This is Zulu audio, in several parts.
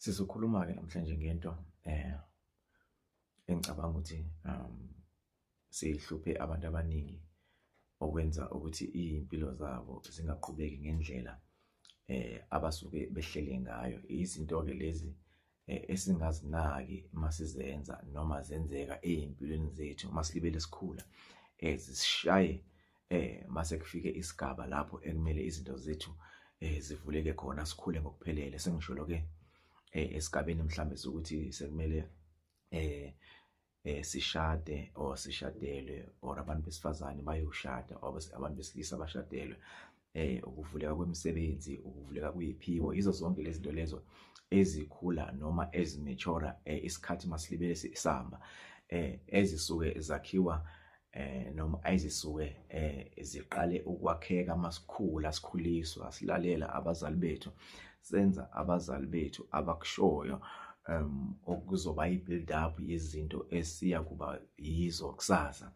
Sizokhuluma-ke namhlanje ngento eh engicabanga ukuthi um sihluphe abantu abaningi okwenza ukuthi iy'mpilo zabo zingaqhubeki ngendlela eh abasuke behlele ngayo izinto-ke lezi eh, esingazinaki uma sizenza noma zenzeka ey'mpilweni zethu uma silibele sikhula eh zisishaye eh mase kufike isigaba lapho ekumele izinto zethu eh zivuleke khona sikhule ngokuphelele sengisholo ke eh esigabeni mhlambe ukuthi sekumele eh eh sishade or sishadelwe or abantu besifazane bayoshada or abantu besilisa bashadelwe eh ukuvuleka kwemisebenzi ukuvuleka kuyiphiwo izo zonke lezi zinto lezo ezikhula noma ezimature eh, isikhathi masilibele sisamba eh ezisuke zakhiwa eh noma ayizisuke eh ziqale ukwakheka masikhula sikhuliswa silalela abazali bethu senza abazali bethu abakushoyo um okuzoba i-build up yezinto esiya kuba yizo kusasa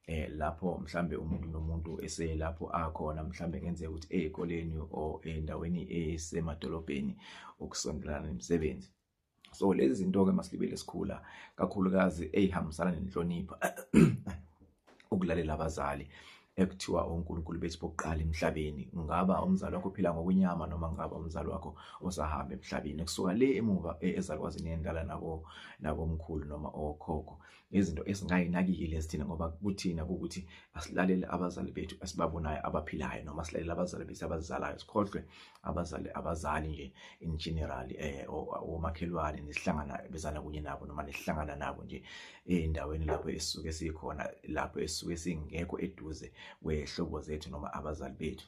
eh lapho mhlambe umuntu nomuntu eselapho akhona mhlambe kenzeka ukuthi ezikoleni or endaweni esemadolobheni okusondelana nemisebenzi so lezi zinto ke masilibele sikhula kakhulukazi eyihambisana nenhlonipho ukulalela abazali ekuthiwa uNkulunkulu bethu bokuqala emhlabeni ngaba umzali wakho phila ngokwenyama noma ngaba umzali wakho osahamba emhlabeni kusuka le emuva e, ezakwazini yendala nako nakomkhulu noma okhokho izinto esingayinakiki lesithina ngoba kuthina ukuthi asilalele abazali bethu esibabonayo abaphilayo noma silalele abazali bethu abazizalayo sikhohlwe abazali abazali nje in general eh omakhelwane nisihlangana bezana kunye nabo noma nisihlangana nabo nje endaweni lapho esisuke sikhona lapho esisuke singekho eduze kwehlobo zethu noma abazali bethu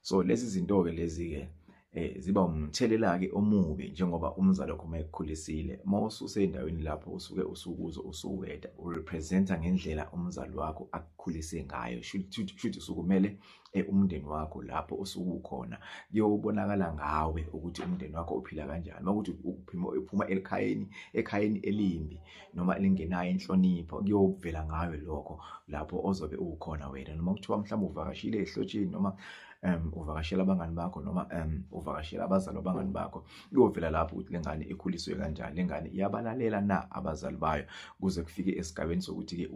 so lezi zinto ke lezi ke eh ziba umthelela ke omubi njengoba umzali wakho mayekukhulisile mawususe endaweni lapho usuke usukuzo usuweda urepresenta ngendlela umzali wakho akukhulise ngayo shuthi shuthi usukumele e, umndeni wakho lapho osuke ukhona kuyobonakala ngawe ukuthi umndeni wakho uphila kanjani makuthi uphuma uphuma elikhayeni ekhayeni elimbi noma elingenayo inhlonipho kuyovela ngawe lokho lapho ozobe ukhona wena noma kuthiwa mhlawumbe uvakashile ehlotsheni noma um uvakashela abangani bakho noma um uvakashela abazali abangani bakho kuyovela lapho ukuthi le ngane ikhuliswe kanjani le ngane iyabalalela na abazali bayo kuze kufike esigabeni sokuthi-ke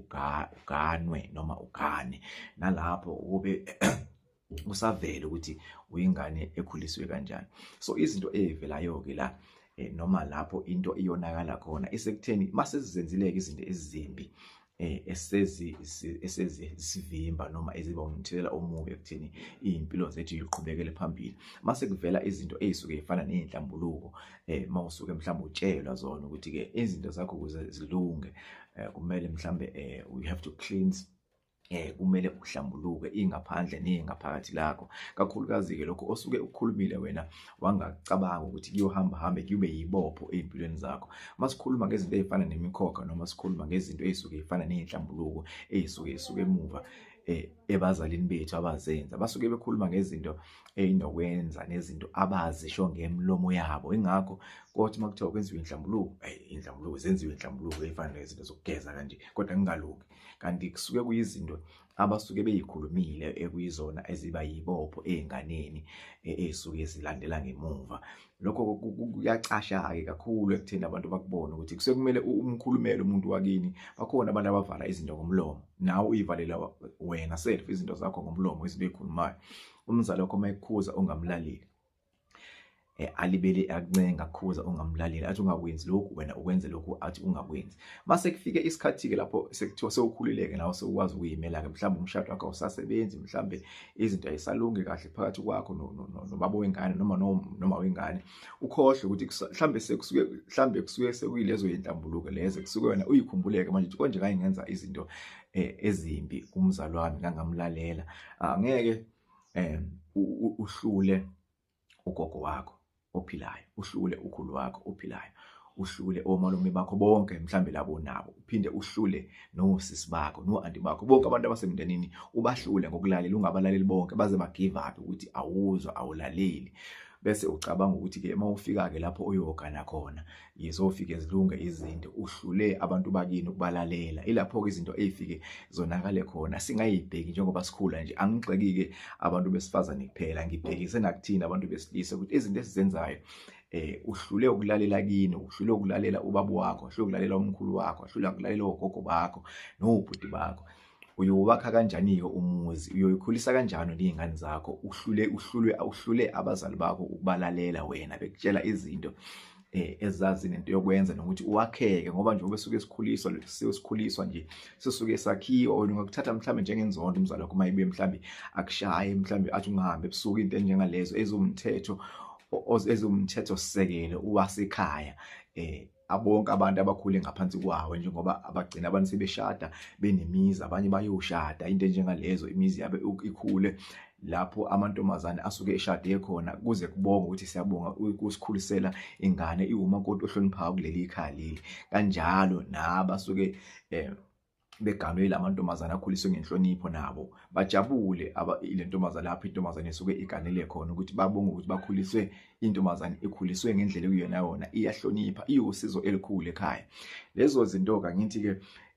uganwe noma ugane nalapho ukube usavele ukuthi uyingane ekhuliswe kanjani so izinto ezivelayo ke la eh, noma lapho into iyonakala khona isekutheni masezizenzileke izinto ezimbi eh esezi esezi sivimba noma eziba umthelela omubi ekutheni impilo zethu iqhubekele phambili mase kuvela izinto ezisuke ifana nezinhlambuluko eh mawusuke mhlawumbe utshelwa zona ukuthi ke izinto zakho kuze zilunge eh, kumele mhlambe eh, we have to cleanse eh kumele uhlambuluke ingaphandle nengaphakathi lakho kakhulukazi ke lokho osuke ukukhulumile wena wangacabanga ukuthi kuyohamba hambe kube yibopho ezimpilweni zakho masikhuluma ngezinto ezifana nemikhokha noma sikhuluma ngezinto ezisuke ezifana nezinhlambuluko ezisuke esuke emuva eh ebazalini bethu abazenza basuke bekhuluma ngezinto eyinokwenza nezinto abazisho ngemlomo yabo ingakho kothi uma kuthiwa kwenziwe inhlambuluko eyi inhlambuluko zenziwe inhlambuluko eyifana nezinto zokugeza kanje kodwa kungalungi kanti kusuke kuyizinto abasuke beyikhulumile ekuyizona eziba yibopho ezinganeni e, ezisuke zilandela ngemuva lokho kuyacasha-ke kakhulu ekutheni abantu bakubone ukuthi kusekumele umkhulumele umuntu wakini bakhona abantu abavala izinto ngomlomo nawe uyivalela wena self izinto zakho ngomlomo izinto ey'khulumayo umzali wakho uma ekukhuza ungamlaleli Eh, alibele akuncenga khuza ungamlaleli athi ungakwenzi lokhu wena ukwenze lokhu athi ungakwenzi mase kufike isikhathi-ke lapho sekuthiwa sewukhulileke nawe sewukwazi ukuyimela-ke mhlawumbe umshado wakho awusasebenzi mhlawumbe izinto ayisalungi kahle phakathi kwakho nobaba wengane noma noma wengane ukhohle ukuthi mhlambe sekusuke mhlambe kusuke sekuyilezo yintambuluko lezo kusuke wena uyikhumbuleke manje ukuthi konje kanye ngenza izinto eh, ezimbi kumzalwane kangamlalela angeke eh, uhlule ugogo wakho ophilayo uhlule ukhulu wakho ophilayo uhlule omalume bakho bonke mhlambe labo nabo uphinde uhlule nosisi bakho noanti bakho bonke abantu abasemndenini ubahlule ngokulalela ungabalaleli bonke baze ba give up ukuthi awuzwa awulaleli bese ucabanga ukuthi ke uma ufika ke lapho uyogana khona yezofike zilunge izinto uhlule abantu bakini ukubalalela ilapho-ke izinto ey'fike zonakale khona singayibheki njengoba sikhula nje angigxeki-ke abantu besifazane kuphela ngibhekise nakuthina abantu besilisa ukuthi izinto esizenzayo eh uhlule ukulalela kini uhlule ukulalela ubaba wakho uhlule ukulalela umkhulu wakho uhlule ukulalela ogogo bakho nobhuti bakho uyowakha kanjani-ke umuzi uyoyikhulisa kanjani ney'ngane zakho uhlule uhlulwe uhlule abazali bakho ukubalalela wena bekutshela izinto eh ezazi nento yokwenza nokuthi uwakheke ngoba nje ubesuke sikhuliswa sikhuliswa nje sisuke sakhiwa wena ungakuthatha mhlambe njengenzondo umzali wakho mayibuye mhlambe akushaye mhlambe athi ungahambe ebusuku into enjengalezo ezomthetho ezomthetho sisekelo uwasekhaya eh abonke abantu abakhule ngaphansi kwawo njengoba abagcina abantu sebeshada benemizi abanye bayoshada into enjengalezo imizi yabe ikhule lapho amantombazane asuke eshade khona kuze kubonga ukuthi siyabonga ukusikhulisela ingane iwumakoti ohloniphayo kuleli ikhaya leli kanjalo nabasuke eh, beganwe la mantombazane akhuliswe ngenhlonipho nabo bajabule le ntombazane lapho intombazane esuke iganele khona ukuthi babonge ukuthi bakhuliswe intombazane ikhuliswe ngendlela ekuyona yona iyahlonipha iwusizo elikhulu ekhaya lezo zinto-ke ngithi-ke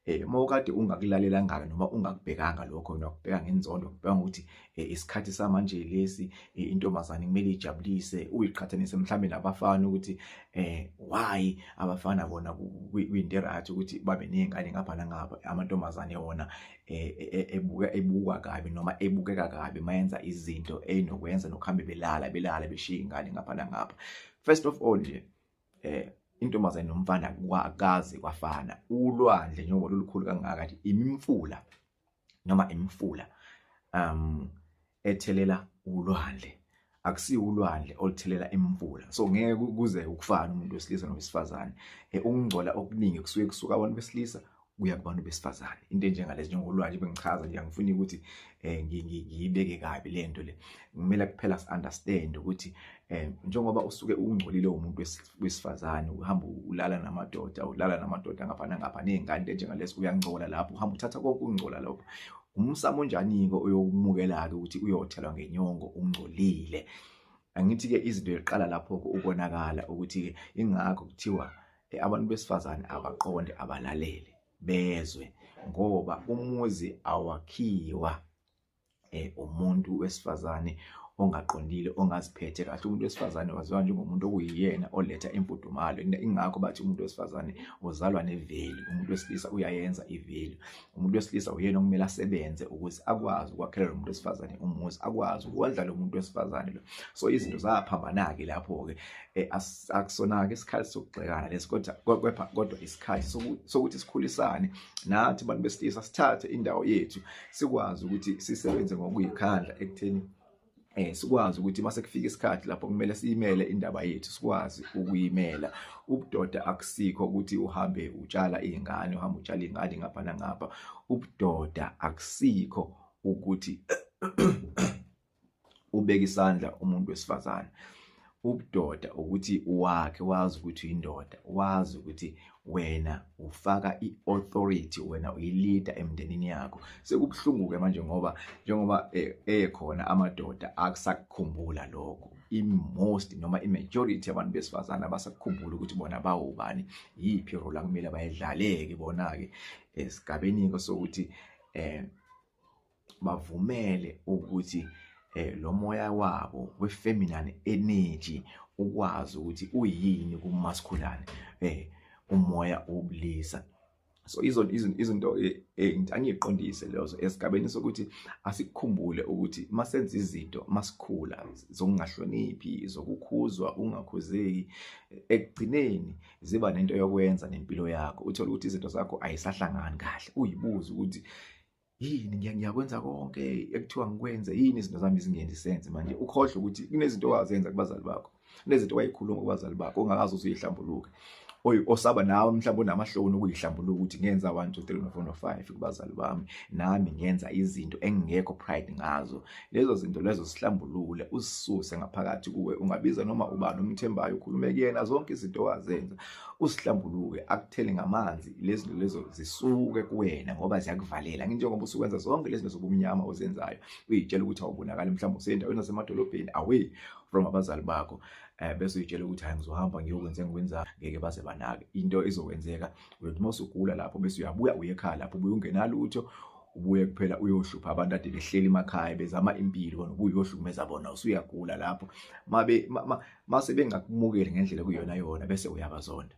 eh mawukade ungakulalela ngaka noma ungakubhekanga lokho nokubheka ngenzondo ngibheka ukuthi Eh, isikhathi samanje lesi eh, intombazane kumele ijabulise uyiqhathanise mhlambe nabafana ukuthi eh why abafana bona kuyinto right ukuthi babe nezingane ngapha nangapha amantombazane wona eh, e, ebuka ebukwa kabi noma ebukeka kabi mayenza izinto enokwenza nokuhambe belala belala beshiya ingane ngapha nangapha first of all nje eh intombazane nomfana kwakazi kwafana ulwandle njengoba lolukhulu kangaka imimfula noma imifula um ethelela ulwandle akusiyo ulwandle oluthelela imvula so ngeke kuze ukufana umuntu wesilisa nowesifazane eh, ukungcola okuningi kusuke kusuka abantu besilisa kuya kubantu besifazane into enjengalezi njengolwandle bengichaza nje angifuni ukuthi eh, ngiyibeke kabi lento le ngimela kuphela si-understand ukuthi um njengoba usuke ungcolile umuntu wesifazane uhamba ulala namadoda ulala namadoda ngapha nangapha nezingane into enjengalesi uyangcola lapho uhamba uthatha konke ukungcola lokho umsamo onjani-ke oyokumukela-ke ukuthi uyothelwa ngenyongo ungcolile angithi-ke izinto yokuqala lapho-ke ukonakala ukuthi-ke ingakho kuthiwa eh, abantu besifazane abaqonde abalalele bezwe ngoba umuzi awakhiwa eh umuntu wesifazane ongaqondile ongaziphethe kahle umuntu wesifazane waziwa njengomuntu okuyiyena oletha imfudumalo ingakho bathi umuntu wesifazane uzalwa neveli umuntu wesilisa uyayenza iveli umuntu wesilisa uyena okumele asebenze ukuze akwazi ukwakhela lo muntu wesifazane umuzi akwazi ukondla lo muntu wesifazane lo so izinto zaphambana-ke lapho-ke eh, akusona-ke isikhathi sokugxekana lesi kodwa kodwa isikhathi sokuthi sikhulisane nathi bantu besilisa sithathe indawo yethu sikwazi ukuthi sisebenze ngokuyikhandla ekutheni eh sikwazi ukuthi mase kufika isikhathi lapho kumele siyimele indaba yethu sikwazi ukuyimela ubudoda akusikho ukuthi uhambe utshala izingane uhamba utshala ingane ngapha nangapha ubudoda akusikho ukuthi ubeka isandla umuntu wesifazane ubudoda ukuthi wakhe wazi ukuthi uyindoda wazi ukuthi wena ufaka i-authority wena uyilida emndenini yakho sekubuhlungu-ke manje ngoba njengoba eh, ekhona amadoda akusakukhumbula lokho i-most noma i-majority abantu besifazane abasakukhumbula ukuthi bona bawubani yiphi role akumele bayidlaleke bona-ke esigabeni-ke sokuthi um bavumele ukuthi eh lo moya wabo wefeminine energy ukwazi ukuthi uyini kumaskhulane eh umoya obulisa so izo izinto eh, eh, angiqondise lezo esigabeni sokuthi asikukhumbule ukuthi masenza izinto masikhula zokungahloniphi zokukhuzwa ungakhuzeki ekugcineni ziba nento yokwenza nempilo yakho uthola ukuthi izinto zakho ayisahlangani kahle uyibuza ukuthi yini ngiya ngiyakwenza konke ekuthiwa ngikwenze yini izinto zami zingenzi sense manje ukhohle ukuthi kunezinto owazenza kubazali bakho kunezinto wayikhuluma kubazali bakho ongakazi usuyihlambuluke oy osaba nawe mhlawumbe unamahloni ukuyihlambuluka ukuthi ngenza 1 2 3 4 5 kubazali bami nami ngenza izinto engingekho pride ngazo lezo zinto lezo sihlambulule usisuse ngaphakathi kuwe ungabiza noma ubani umthembayo ukhulume kuyena zonke izinto wazenza usihlambuluke akuthele ngamanzi lezinto lezo zisuke kuwena ngoba ziyakuvalela nginjengoba usukwenza zonke lezinto zobumnyama ozenzayo uyitshela ukuthi awubonakali mhlawumbe usendaweni nasemadolobheni away from abazali bakho eh bese uyitshela ukuthi hayi ngizohamba ngiyokwenza engikwenza ngeke baze banake into izokwenzeka uyothi uma usugula lapho bese uyabuya uye ekhaya lapho ubuye ungenalutho ubuye kuphela uyohlupha abantu ade behleli emakhaya bezama impilo nokuyohlukumeza bona usuyagula lapho mabe mase bengakumukeli ngendlela kuyona yona bese uyabazonda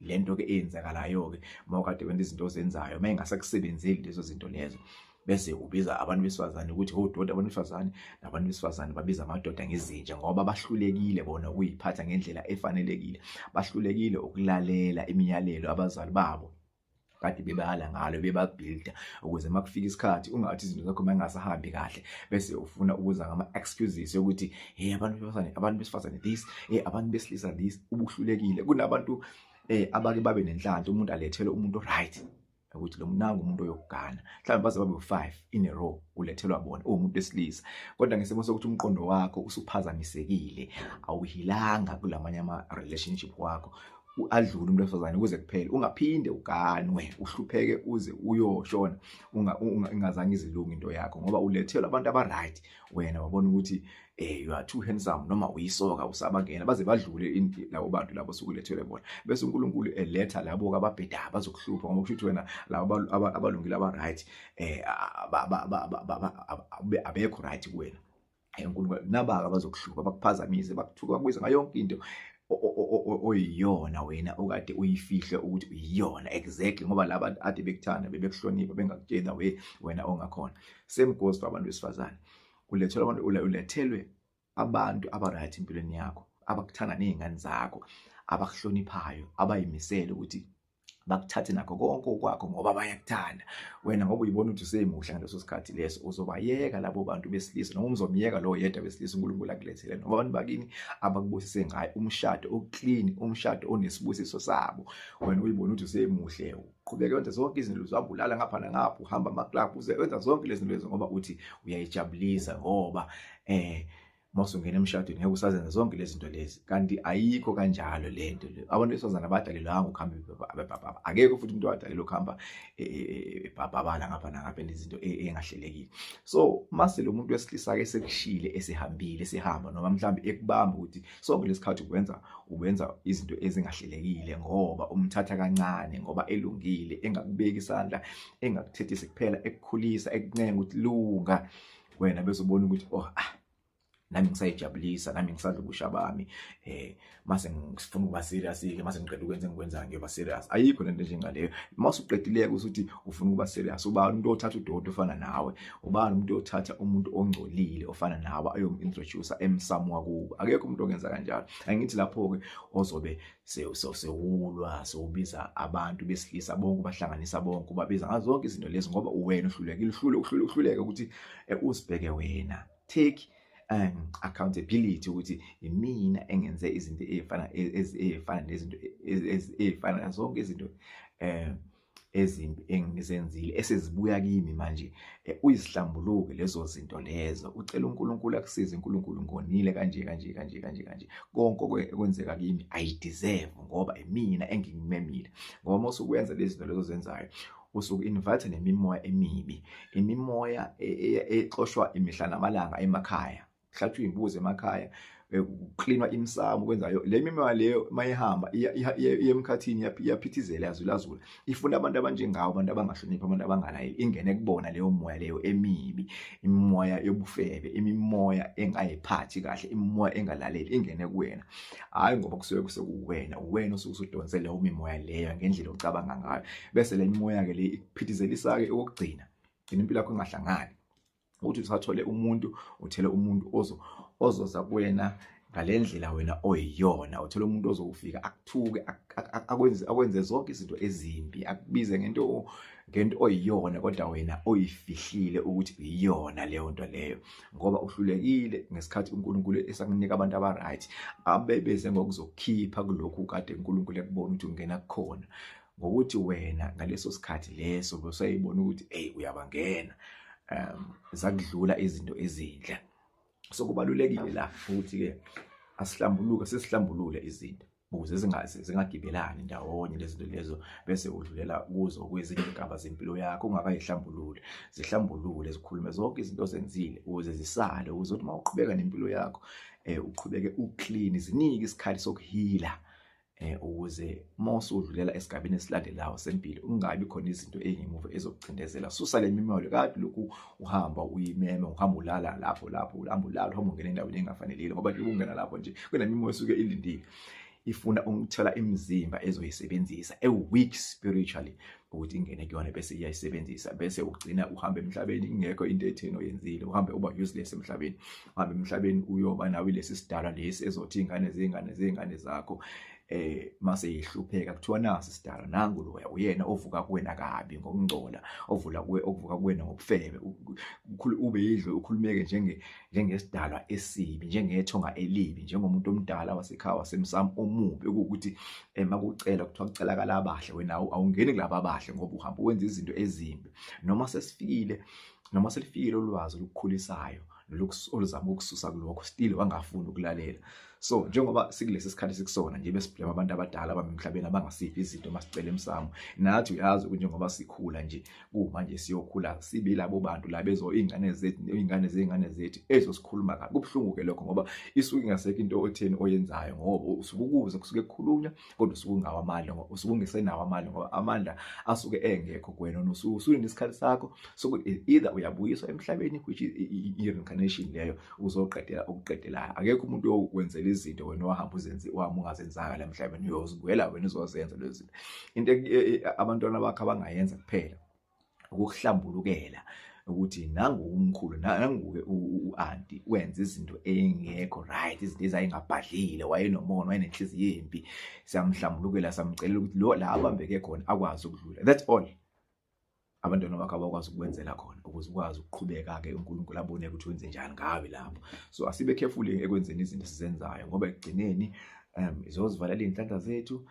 lento ke eyenzakalayo ke mawukade wenza izinto ozenzayo mayengasakusebenzeli lezo zinto lezo bese ubiza abantu besifazane ukuthi odoti abantu besifazane nabantu besifazane babiza amadoda ngezinja ngoba bahlulekile bona ukuyiphatha ngendlela efanelekile bahlulekile ukulalela imiyalelo abazali babo kade bebala ngalo bebabhilda ukuze makufika isikhathi ungathi izinto zakho mangasahambi kahle bese ufuna ukuza ngama excuses yokuthi hey abantu besifazane abantu besifazane this hey abantu besilisa this ubuhlulekile kunabantu eh abake babe nenhlanhla umuntu alethele umuntu right ukuthi lo mnanga umuntu oyokugana mhlawumbe baze babe u5 in a row ulethelwa bona uwumuntu esilisa kodwa ngesimo sokuthi umqondo wakho usuphazamisekile awuhilanga kulamanye ama relationship wakho adlule umuntu wesifazane kuze kuphele ungaphinde uganwe uhlupheke uze uyoshona ingazange izilunge into yakho ngoba ulethelwa abantu abaright wena wabona ukuthi eh you are too handsome noma uyisoka usabangena baze badlule labo bantu labo sukulethele bona bese uNkulunkulu eletha labo ababheda bazokuhlupha ngoba kusho ukuthi wena labo abalungile abaright eh abekho right kuwena Hayi uNkulunkulu kunabaka abazokuhluba bakuphazamise bakuthuka bakubiza ngayo yonke into oyiyona wena okade uyifihle ukuthi uyiyona exactly ngoba laba ade bekuthanda bebekuhlonipha bengakutshela we wena ongakhona same goes for abantu besifazane ulethelwa abantu ulethelwe abantu abaright empilweni yakho abakuthanda nezingane zakho abakuhloniphayo abayimisele ukuthi bakuthathe nakho konke okwakho ngoba bayakuthanda wena ngoba uyibona ukuthi usemuhle ngaleso sikhathi leso uzobayeka labo bantu besilisa noma umzomyeka lowo yedwa besilisa uNkulunkulu akulethele noma abantu bakini abakubusise ngayo umshado oclean umshado onesibusiso sabo wena uyibona ukuthi usemuhle uqhubeke wenza zonke izinto uzabulala ngapha nangapha uhamba ama club uze wenza zonke lezi zinto lezo ngoba uthi uyayijabulisa ngoba eh uma usungena emshadweni ngeke usazenza zonke lezi zinto lezi kanti ayikho kanjalo le nto le abantu besifazane abadalelwanga ukuhamba bebhabhaba akekho futhi umuntu wadalelwa ukuhamba e, e, e, ebhabhabala ngapha nangapha nezinto engahlelekile so mase lo muntu wesilisa-ke sekushile esehambile esehamba noma mhlawumbe ekubamba ukuthi sonke lesikhathi ukwenza ukwenza izinto ezingahlelekile ngoba umthatha kancane ngoba elungile engakubeki isandla engakuthethisi kuphela ekukhulisa ekuncenga ukuthi lunga wena bese ubona ukuthi oh ah nami ngisayijabulisa nami ngisadla ubusha bami eh mase ngifuna ukuba serious ke mase ngiqeda ukwenza engikwenzayo ngiyoba serious ayikho lento njengaleyo mase uqedileke usuthi ufuna ukuba serious ubani umuntu othatha udoti ofana nawe ubani umuntu othatha umuntu ongcolile ofana nawe ayomintroduce emsamu wakubo akekho umuntu ongenza kanjalo angithi lapho ke ozobe sewulwa sewubiza abantu besilisa bonke ubahlanganisa bonke ubabiza ngazo zonke izinto lezi ngoba uwena uhlulekile uhlule uhlule uhluleke ukuthi eh, uzibheke wena take um accountability ukuthi imina engenze izinto ezifana e, ezifana nezinto ezifana zonke izinto um ezimbi engizenzile esezibuya kimi manje eh, uyizihlambuluke lezo zinto lezo ucela uNkulunkulu akusize uNkulunkulu ngonile kanje kanje kanje kanje kanje konke okwenzeka kimi i deserve ngoba imina engingimemile ngoba mase ukwenza lezi zinto lezo zenzayo usuke invite nemimoya emibi imimoya e, e, e, exoshwa imihla namalanga emakhaya kuhlatshwa iy'mbuzi emakhaya eh, kuklinwa imsamo kwenzayo le mimoya leyo mayihamba iyemkhathini iyaphithizela yazulazula ifuna abantu abanjengawo abantu abangahloniphi abantu abangalayeli ingene kubona leyo moya leyo emibi imimoya yobufebe imimoya engayiphathi kahle imimoya engalaleli ingene kuwena hhayi ngoba kusuke kusekuwena uwena osuke usudonse leyo mimoya leyo ngendlela ocabanga ngayo bese le mimoya-ke le ikuphithizelisa-ke okokugcina gcina impilo yakho ingahlangani ukuthi usathole umuntu uthele umuntu ozo ozoza kuwena ngalendlela wena oyiyona uthola umuntu ozokufika akuthuke akwenze akwenze zonke izinto ezimbi akubize ngento ngento oyiyona kodwa wena oyifihlile ukuthi uyiyona leyo nto leyo ngoba uhlulekile ngesikhathi uNkulunkulu esakunika abantu abaright abebeze ngokuzokhipha kulokhu kade uNkulunkulu ekubona ukuthi ungena kukhona ngokuthi wena ngaleso sikhathi leso bosayibona ukuthi hey uyabangena um zakudlula izinto ezinhle so kubalulekile la ukuthi ke asihlambuluke sesihlambulule izinto ukuze zingazi zingagibelani ndawonye lezinto lezo bese udlulela kuzo kwezinye igaba zempilo yakho ungakayihlambulule zihlambulule zikhulume zonke izinto zenzile ukuze zisale ukuze uthi mawuqhubeka nempilo yakho eh uqhubeke uclean zinike isikhathi sokuhila eh ukuze uma usudlulela esigabeni esilandelayo sempilo ungabi khona izinto ezingemuva ezokucindezela susa lemimoyo kade lokhu uhamba uyimeme uhamba ulala lapho lapho uhamba ulala uhamba ungena endaweni engafanelile ngoba nje ungena lapho nje kunemimoya esuke ilindile ifuna ukuthola imizimba ezoyisebenzisa e weak spiritually ukuthi ingene kuyona bese iyayisebenzisa bese ugcina uhamba emhlabeni ingekho into etheni oyenzile uhambe uba useless emhlabeni uhambe emhlabeni uyoba nawe lesi sidala lesi ezothi ingane zingane zingane zakho eh mase ihlupheka kuthiwa nasi sidala nangu loya uyena ovuka kuwena kabi ngokungcola ovula kuwe okuvuka kuwena ngobufebe ukhulu ube yidlo ukhulumeke njenge njengesidalwa esibi njengethonga elibi njengomuntu omdala wasekhaya wasemsamo omubi ukuthi ema kucela kuthiwa kucelakala abahle wena awungeni kulaba abahle ngoba uhamba wenza izinto ezimbi noma sesifikile noma selifikile ulwazi olukukhulisayo oluzama ukususa kulokho still wangafuni ukulalela so njengoba sikulesi sikhathi sikusona nje besiblema abantu abadala abamemhlabeni abangasiphi izinto masicela emsamo nathi uyazi ukuthi njengoba sikhula nje kumanje siyokhula sibe labo bantu la bezo ingane zethu ingane zengane zethu ezo sikhuluma kabi kubuhlungu ke lokho ngoba isuke ingasekho into otheni oyenzayo ngoba usukukuze kusuke kukhulunywa kodwa usuke ungawo amandla ngoba usuke ungesenawo amandla ngoba amandla asuke engekho kuwena nosuke usulinde isikhathi sakho sokuthi e, either uyabuyiswa emhlabeni which is i-reincarnation leyo uzoqedela okuqedelayo akekho umuntu okwenzela izinto wena wahamba uzenzi wahamba ungazenzanga la mhlabeni uyozibuyela wena uzozenza lezi zinto into e, e, abantwana bakho abangayenza kuphela ukuhlambulukela ukuthi nangu umkhulu nanguke uanti wenza izinto engekho right izinto ezayingabhadlile wayenomona wayenenhliziyo embi siyamhlambulukela samcela ukuthi lo la abambeke khona akwazi ukudlula that's all abantwana bakho abakwazi ukukwenzela khona ukuze ukwazi ukuqhubeka ke uNkulunkulu abone ukuthi wenze njani ngawe lapho so asibe careful ekwenzeni izinto esizenzayo ngoba ekugcineni um izozivalela izinhlanhla zethu